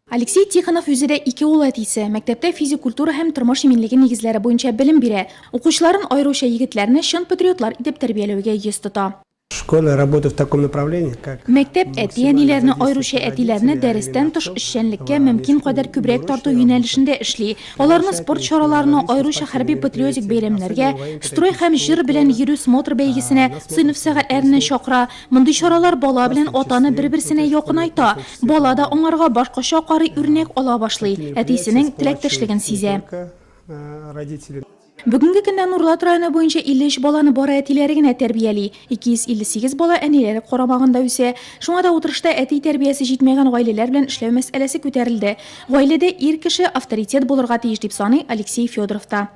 Алексей Тихонов үзе дә ике ул әтисе. Мәктәптә физик культура һәм тормыш иминлеге нигезләре буенча белем бирә. Укучыларын, аеруча егетләрне, чын патриотлар итеп тәрбияләүгә йөз тота. Школа работы в таком направлении, как Мәктәп әти-әниләрне, аеруча әтиләрне дәрестән тыш эшчәнлеккә мөмкин кадәр күбрәк тарту юнәлешендә эшли. Аларны спорт чараларына, аеруча хәрби-патриотик бәйрәмнәргә, строй һәм җыр белән йөрү смотр бәйгесенә, сыйныф сәгатьләренә чакыра. Мондый чаралар бала белән атаны бер-берсенә якынайта, бала да аңарга башкача карый, үрнәк ала башлый, әтисенең теләктәшлеген сизә. Бүгенге көндә Нурлат районы буенча 53 баланы бары әтиләре генә тәрбияли. 258 бала әниләре карамагында үсә. Шуңа да утырышта әти тәрбиясе җитмәгән гаиләләр белән эшләү мәсьәләсе күтәрелде. Гаиләдә ир кеше авторитет булырга тиеш, дип саный Алексей Федоров та.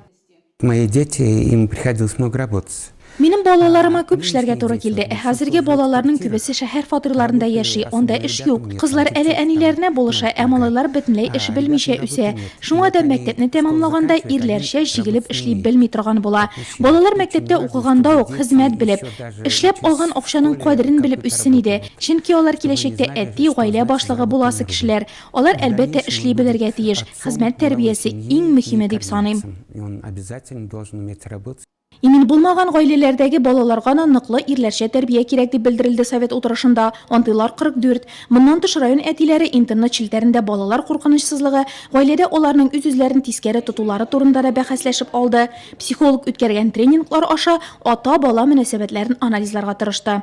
Мои дети, им приходилось много работать. Минем балаларыма күп эшләргә туры килде. Ә хәзерге балаларның күбесе шәһәр фатирларында яши, анда эш юк. Кызлар әле әниләренә булыша, ә малайлар бөтенләй эш белмичә үсә. Шуңа да мәктәпне тәмамлаганда ирләрчә җигелеп эшли белми торган була. Балалар мәктәптә укыганда ук, хезмәт белеп, эшләп алган акчаның кадерен белеп үссен иде. Чөнки алар киләчәктә әти, гаилә башлыгы буласы кешеләр. Алар, әлбәттә, эшли белергә тиеш. Хезмәт тәрбиясе, иң мөһиме дип саныйм. Имин булмаган гаиләләрдәге балаларга да ныклы ирләрчә тәрбия кирәк, дип белдерелде совет утырышында. Антыйлар 44. Моннан тыш район әтиләре интернет челтәрендә балалар куркынычсызлыгы, гаиләдә аларның үз-үзләрен тискәре тотулары турында да бәхәсләшеп алды. Психолог үткәргән тренинглар аша ата-бала мөнәсәбәтләрен анализларга тырышты.